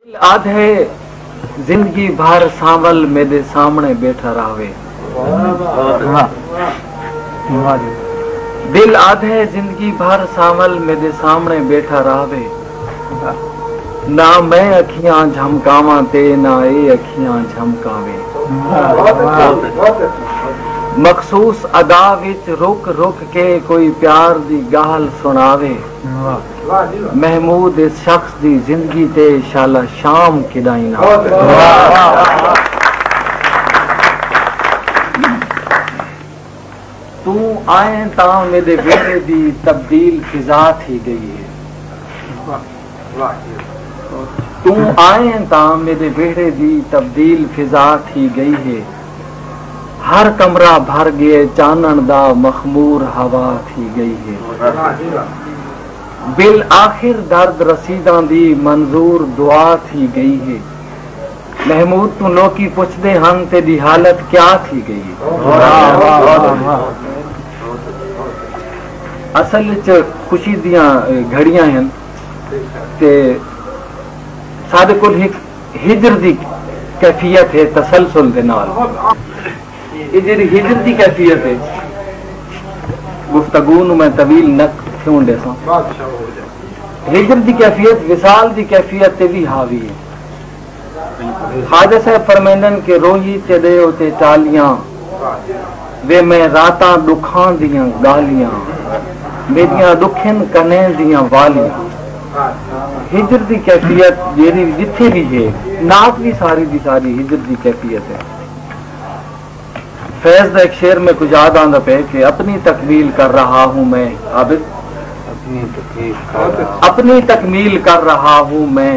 دل آدھے زندگی بھر سانول میڈے سامنے بیٹھا راہوے دل آدھے زندگی بھر سانول میڈے سامنے بیٹھا راہوے نہ میں اکھیاں جھمکاواں تے نہ اے اکھیاں جھمکاوے مخصوص ادا وچ رک رک کے کوئی پیار دی گالھ سنڑاوے۔ محمود اس شخص دی زندگی تے شالا شام کیڈائیں نہ توں آئیں تاں میڈے ویلے دی تبدیل فضا تھی گئی ہے۔ توں آئیں تاں میݙے ویہڑے دی تبدیل فضا تھی ڳئی ہے۔ ہر کمرہ بھر ڳئے چانݨ دا مخمور ہوا تھی ڳئی ہے۔ بالآخر درد رسیداں دی منظور دعا تھی ڳئی ہے۔ محمود توں لوکی پچھدے ہن تیݙی حالت کیا تھی ڳئی ہے۔ اصل اچ خوشی دیاں گھڑیاں ہن تے ساڈے کول ہک ہجر دی کیفیت ہے تسلسل دے نال اے جیڑھی ہجر دی کیفیت ہے گفتگو نو میں طویل نک تھیون ڈیساں ہجر دی کیفیت وصال دی کیفیت تے وی حاوی ہے۔ خواجہ صاحب فرمیندن کہ روہی تیݙے اتے ٹالیاں وے میں راتاں ݙکھاں دیاں ڳالھیاں میݙیاں ݙکھن کنیں دیاں والیاں ہجر دی کیفیت جیڑھی وی جتھے وی ہے نعت وی ساری دی ساری ہجر دی کیفیت ہے فیض دا ہک شعر میکوں یاد آندا پئے کہ اپنی تکمیل کر رہا ہوں میں عابد اپنی تکمیل کر رہا ہوں میں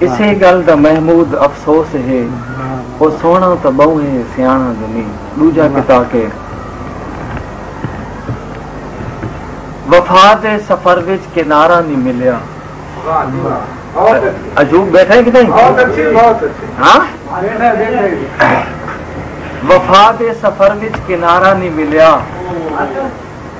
اسے گل دا محمود افسوس ہے او سوہنڑاں تاں بہوں ہے سیانڑاں جو نی ڈوجھا کتا کے وفا دے سفر وچ کنارہ نی ملیا وفا دے سفر وچ کنارہ نی ملیا۔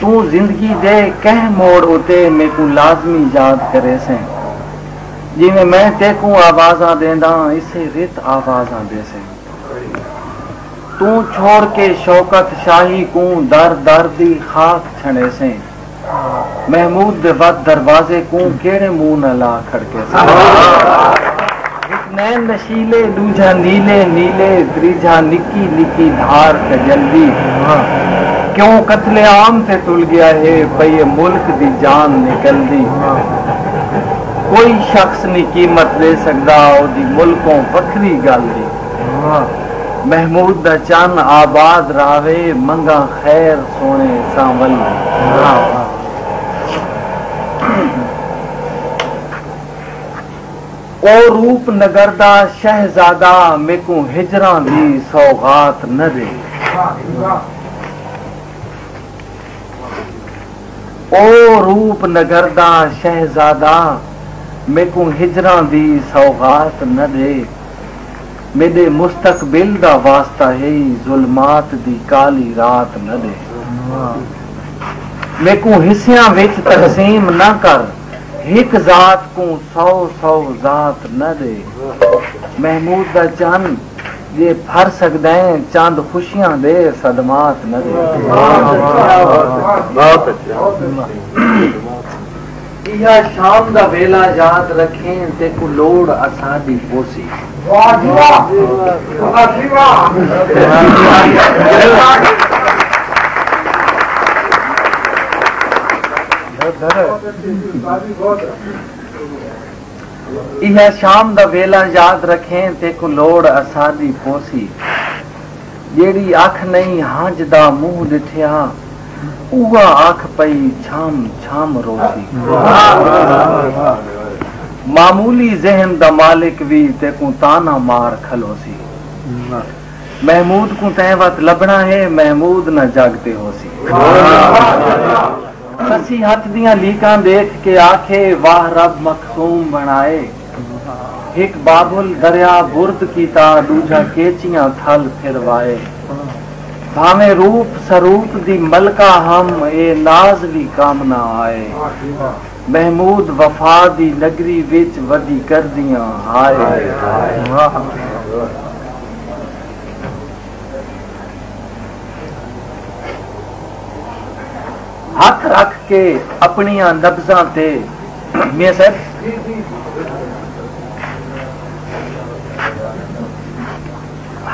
توں زندگی دے کہیں موڑ اتے میکوں لازمی یاد کریسیں۔ جیویں میں تیکوں آوازاں ݙینداں اسے رت آوازاں ݙیسیں۔ توں چھوڑ کے شوکت شاہی کوں در در دی خاک چھنڑیسیں۔ محمود دے ودھ دروازے کوں کیڑھے منہ نال آ کھڑکیسیں۔ نین نشیلے ݙوجھا نیلے نیلے تریجھا نکی نکی دھار کجل دی بھونہاں کیوں قتل عام تے تل گیا ہے پئی اے ملک دی جان نکل دی بھونہاں کوئی شخص نی قیمت ݙے سڳدا اودی ملکوں وکھری ڳل دی بھونہاں محمود دا چن آباد رہوے منگاں خیر سوہݨے سانول دی بھونہاں۔ او روپ نگر دا شہزادہ میکوں ہجراں دی سوغات نہ ݙے۔ او روپ نگر دا شہزادہ میکوں ہجراں دی سوغات نہ ݙے میݙے مستقبل دا واسطہ ہئی ظلمات دی کالی رات نہ ݙے میکوں حصیاں وچ تقسیم نہ کر۔ ہک ذات کوں سو سو ذات نہ ݙے محمود دا چن جے پھر سڳدئیں چند خوشیاں دے صدمات نہ ݙے ایہا شام دا ویلہ یاد رکھیں تیکوں لوڑ اساݙی پوسی ایہا شام دا ویلہ یاد رکھیں تیکوں لوڑ اساݙی پوسی جیڑھی اکھ نئیں ہنج دا منہ ݙٹھے ہاں اوہا اکھ پئی جھم جھم روسی معمولی ذہن دا مالک وی تیکوں طعنہ مار کھلوسی۔ محمود کوں تیں وت لبھنا ہے محمود نہ جگ تے ہوسی۔ سسی ہتھ دیاں لیکاں ڈیکھ کے آکھے واہ رب مخصوم بنڑائے ہک بابل دریا برد کیتا ڈوجھا کیچیاں تھل پھر وائے بھاویں روپ سروپ دی ملکہ ہم اے ناز وی کام نہ آئے۔ محمود وفا دی نگری وچ ودی کردیاں ہائے ہتھ رکھ کے اپنیاں نبضاں تے میاں صاحب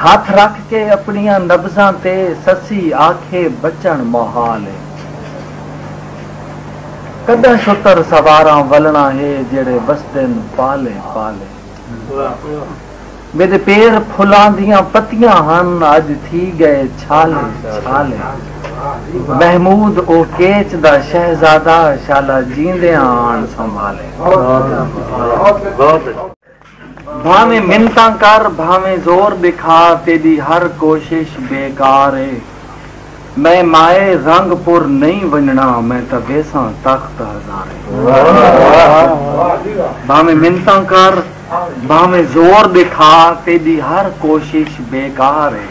ہتھ رکھ کے اپنیاں نبضاں تے سسی آکھے بچن محال ہے کݙاں شتر سواراں ولݨا ہے جیڑھے وسدن پالے پالے میݙے پیر پھلاں دیاں پتیاں ہن اڄ تھی ڳئے چھالے چھالے محمود او کیچ دا شہزادہ شالا جیندیاں آن سنبھالے۔ بھانویں منتاں کر بھانویں زور ݙکھا تیݙی ہر کوشش بے کار اے میں مائے رنگ پور نئیں ونڄݨا میں تاں ویساں تخت ہزارے بھانویں منتاں کر بھانویں زور ݙکھا تیݙی ہر کوشش بے کار اے۔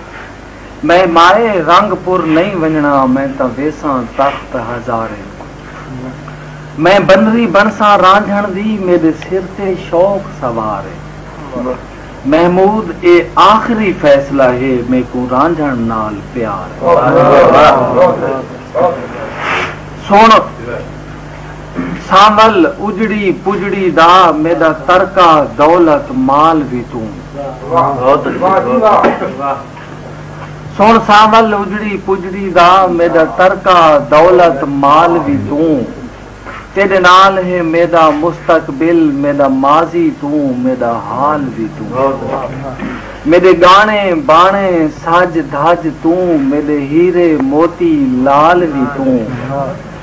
میں مائے رنگ پور نئیں ونڄݨا میں تاں ویساں تخت ہزاریں کوں میں بنری بݨساں رانجھݨ دی میݙے سر تے شوق سوار اے محمود اے آخری فیصلہ ہے میکوں رانجھݨ نال پیار اے سݨ سانول اجڑی پجڑی دا میݙا ترکہ دولت مال وی توں۔ سݨ سانول اجڑی پجڑی دا میݙا ترکہ دولت مال وی توں تیݙے نال ہے میݙا مستقبل میݙا ماضی توں میݙا حال وی توں میݙے ڳاݨے ٻاݨے سڄ دھڄ توں میݙے ہیرے موتی لال وی توں۔